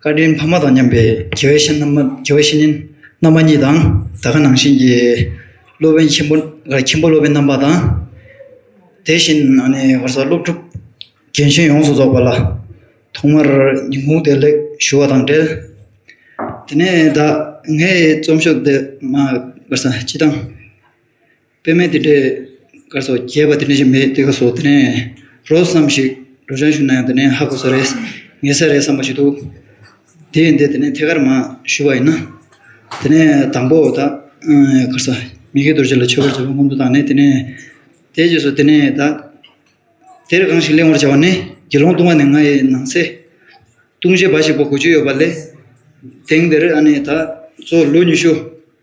བཀའ་དྲིན་ཕ་མ་དང་མཉམ་པའི་དགེ་བའི་བཤེས་གཉེན་རྣམ་པ་གཉིས་དང་ད་ག་ནང་བཞིན་གྱི་སློབ་དཔོན་ཆེན་པོ་སློབ་དཔོན་རྣམ་པ་དང་དེ་བཞིན་སློབ་ཕྲུག་རྒན་གཞོན་ཡོངས་སུ་རྫོགས་པ་ལ་ཐོག་མར་ཉི་ཧོང་བདེ་ལེགས་ཞུ་བ་དང་འབྲེལ་དེ་ནས་ད་ངའི་རྩོམ་ཤོག་འདི་སྤྱི་བཏང་པད་མའི་དེ་འདྲའི་དཀར་སོགས་རྒྱས་པ་དེ་འདྲ་ཞིག་མེད་དེ་ག་སོགས་དེ་ནས་རོ་བསམ་ཞིག་རོ་ཅང་ཞུ་ན་ཡང་དེ་ནས་ཧ་གོ་ས་རེད་ངེས་ས་རེད་བསམ་པ་ཞིག་འདུག་དེ་ཡིན་དེ་དེ་ནས་ཐད་ཀར་མ་ཞུ་བ་ཡིན་ན་དེ་ནས་དང་པོ་ད་གར་ས་མི་དགེ་རྡོ་རྗེ་ལ་མཆོད་པར་བྱ་བ་སྔོན་དུ་བཏང་ནས་དེ་ནས་དེ་རྗེས་སུ་དེ་ནས་ད་དེར་གང་ཞིག་གླེང་བར་བྱ་བ་ནི་དགེ་སློང་ལྟུང་བ་ནི་ང་ཡི་ནང་ཚེ་ལྟུང་བྱེད་འབའ་ཞིག་པ་དགུ་བཅུ་ཡོད་པ་ལས་དེང་འདིར་ཨ་ནི་ད་གཙོ་བོ་ལོ་ཉི་ཤུ།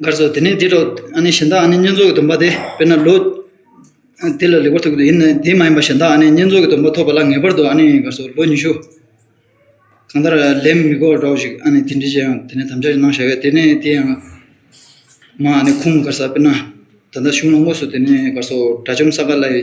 མཁར་ཚོགས་དེ་ནས་དེ་འདྲ་ཨ་ནི་གཞན་དག་ཨ་ནི་བསྙེན་རྫོགས་ཀྱི་སྡོམ་པ་དེ་དཔེར་ན་ལོ། དེ་ལ་ལེགས་པར་ཐོབ་ཀྱི་ཡིན་ནའི་དེ་མ་ཡིན་པ་གཞན་དག་ཨ་ནི་བསྙེན་རྫོགས་ཀྱི་སྡོམ་པ་ཐོབ་པ་ལ་ངེས་པར་དུ་ཨ་ནི་མཁར་ཚོགས་ལོ་ཉི་ཤུ། གང་ལྟར་ལན་མི་དགོས་པར་འགྲོའོ་ཞིག་ཨ་ནི་དེ་འདྲའི་ཆེད་ཡང་དེ་ནས་དམ་བཅའ་ཞིག་གནང་བཞག་གས་དེ་ནས་དེ་ཡང། མ་ཨ་ནི་ཁུངས་མཁར་ས་དཔེར་ན། ད་ལྟ་གཞུང་ལ་དངོས་སུ་དེ་ནས་མཁར་ཚོགས་དགྲ་བཅོམ་ས་ག་ལ་ཡི།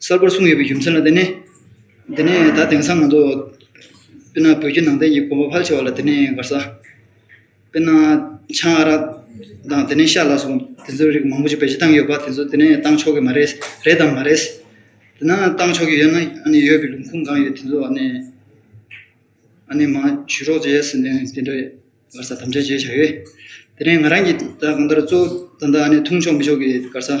གསར་པར་གསུངས་ཡོད་པའི་རྒྱུ་མཚན་ལ་བརྟེན་ནས། འདི་ནས་ད་དེང་སང་ང་ཚོ། དཔེར་ན་བོད་བརྒྱུད་ནང་བསྟན་གྱི་གོམ་པ་ཕལ་ཆེ་བ་ལ་དེ་ནས་འགར་ས། དཔེར་ན། ཆང་ཨ་རག་དང་དེ་ནས་ཤ་ལ་སོགས་དེ་ཚོའི་རིགས་མང་པོ་ཞིག་བེད་སྤྱོད་བཏང་གི་ཡོད་པ་དེ་ཚོ་དེ་ནས་བཏང་ཆོག་གི་མ་རེད། རེད་དམ་མ་རེད། དེ་ན་བཏང་ཆོག་གི་ཡོད་ན་ཨ་ནི་ཡོད་པའི་ལུང་ཁུངས་གང་ཡོད་དེ་ཚོ་ཨ་ནི། ཨ་ནི་མང་ཞུས་རོགས་བྱས་ཟེར་ནས་དེ་འདྲ་འགར་ས་དམ་བཅའ་བྱས་བྱ་ཡོད། དེ་ནས་ང་རང་གིས་ད་གང་ལྟར་གཙོ་བོ་ད་ལྟ་ཨ་ནི་འཐུང་ཆོག་མི་ཆོག་གི་འགར་ས།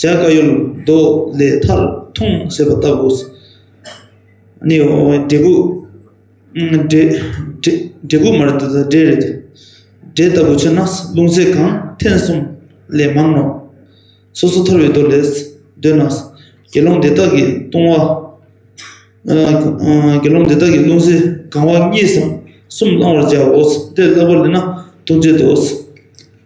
བྱ་དཀའ་ཡུལ་རྡོ་ལས་མཐར་ཐུང་ཟེར་བ་ལྟ་བུ། ནི་འབྲས་བུ། འབྲས་བུ་མར་འབྲས་རེད། འབྲས་ལྟ་བུ་ཆེ་ན་རླུང་ཟད་གང་ཐེངས་གསུམ་ལས་མང་ནོ། སོ་སོ་ཐར་བའི་རྡོ་ལས་འདོད་ན། དགེ་སློང་འདི་དག་གི་ལྟུང་བ། དགེ་སློང་འདི་དག་གི་རླུང་ཟད་གང་བ་གཉིས་སམ་གསུམ་བླང་བར་བྱའོ། དེ་བསླབ་པར་ལེན་ན་ལྟུང་བྱེད་དོ།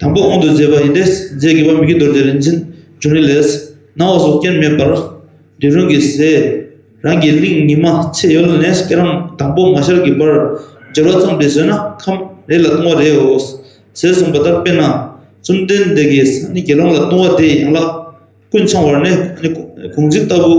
དང་པོ་དབང་དུ་མཛད་པ་ཡིན་ཏེ་རྫས་དགེ་བ་མི་དགེ་འདོར་ཏེ་རིན་ཆེན་བྱུང་རིང་ལས། སྣང་བ་སོགས་རྐྱེན་མེད་པར། འབྲིང་རུང་གི་ཟས། རང་གི་གླིང་ཉི་མ་ཚེ་ཡོལ་ནས་སྐྱེ་རང་དང་པོ་མ་ཤར་གྱི་བར། སྦྱོར་བ་ཙམ་དུ་ཟོས་ན་ཁམས་རེ་ལ་ལྟུང་བ་རེའོ། ཟས་གསུངས་པ་ལྟར་དཔེར་ན། བཅོམ་ལྡན་འདས་ཀྱིས་ནི་དགེ་སློང་ལ་ལྟུང་བ་དེ་ཡན་ལག་ཀུན་འཆང་བར་ནི་གུང་ཚིགས་ལྟ་བུ།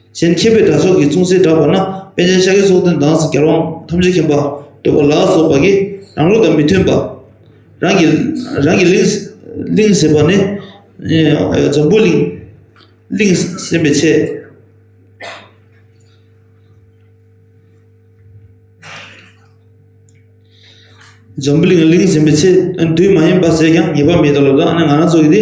གཞན་མཁྱེན་པའི་དགྲ་ཕྱོགས་ཀྱི་མཚུངས་སྲེལ་བསྒྲགས་པ་ན་དཔལ་ཆེན་ཤཱཀྱའི་སྲོག་འདོན་དྭངས་སེ་གར་དབང་ཐམས་ཅད་མཁྱེན་པ་འདོད་པ་ལ་སོགས་པ་ཀྱིས་རང་ལུགས་དང་མི་མཐུན་པ། རང་གི་རང་གི་གླིང། གླིང་ཟེར་བ་ནི། འཛམ་བུའི་གླིང། གླིང་སེམས་པའི་ཆེད། འཛམ་བུའི་གླིང་གླིང་སེམས་པའི་ཆེད། དུས་མ་ཡིན་པ་ཟེར་ཀྱང་ངེས་པ་མེད་དོ་ལབ་ལ་ང་རང་ཚོ་གིས་དེ།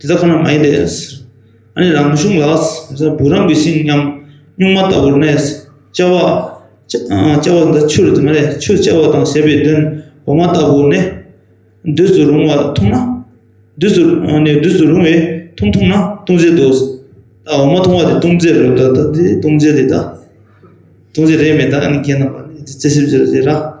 དེ་ད་ག་ན་མ་ཡིན་ཏེ། ཨ་ནི་རང་མི་ཤོང་ལགས། བུ་རམ་གྱི་ཤིང་སྙམ། སྨྱུག་མ་ལྟ་བུར་གནས། བཅའ་བ། བཅའ་བ་འདི་ཆུར་དེ་མ་རེད་ཆུ་བཅའ་བ་དང་ཞེས་པའི་དོན། འོ་མ་ལྟ་བུར་གནས། འདུས་སུ་རུང་བ་འཐུངས་ན། འདུས་སུ་འདུས་སུ་རུང་བས་འཐུངས་འཐུངས་ན་ལྟུང་བྱེད་དོ། ད་འོ་མ་འཐུང་བ་དེ་ལྟུང་བྱེད་རེད་ད་ལྟ་འདི་ལྟུང་བྱེད་རེད་ད། ལྟུང་བྱེད་རེད་མེད་ད་ཨ་ནི་ཁྱེད་རྣམས་པ་ནི་རྩིས་ཞིབ་བྱེད་རོགས།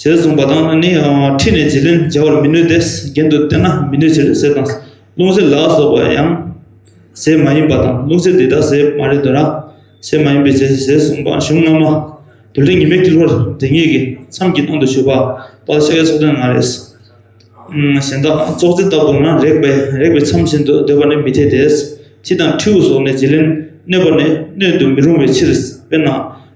ཞེས་གསུངས་པ་དང་ནི་ཁྲིད་ནས་བྱིན་ལེན་བྱ་བར་མི་ནུས་ཏེ་རྒྱན་དུ་བསྟན་ན་མི་ནུས་ཕྱིར་ཟས་དང་ལྷུང་བཟེད་ལ་སོགས་པ་ཡང་ཟས་མ་ཡིན་པ་དང་ལྷུང་བཟེད་འདི་དག་ཟས་མ་རེད་དོ་ར། ཟས་མ་ཡིན་པའི་ཟས་ཟས་གསུངས་པ་གཞུང་སྔ་མ། དུ་ལེ་ཉི་མའི་དཀྱིལ་འཁོར་དེ་ཉིད་ཀྱི་མཚམས་ཀྱི་སྟེང་དུ་བཞུགས་པ་པདྨ་ཤཱཀྱའི་ཚོགས་ཐུན་ང་རེ། གཞན་དག་ཙོག་ཙེ་ལྟ་བུ་ན་རེག་པས་རེག་པའི་མཚམས་བཞིན་དུ་འདོད་པ་ནི་མི་འཐད་དེ། ཁྱི་དང་ཁྲིའུ་སོགས་ནི་བྱིན་ལེན་གནོད་པ་ནི་གནོད་དུ་མི་རུང་བའི་ཕྱིར་དཔེར་ན།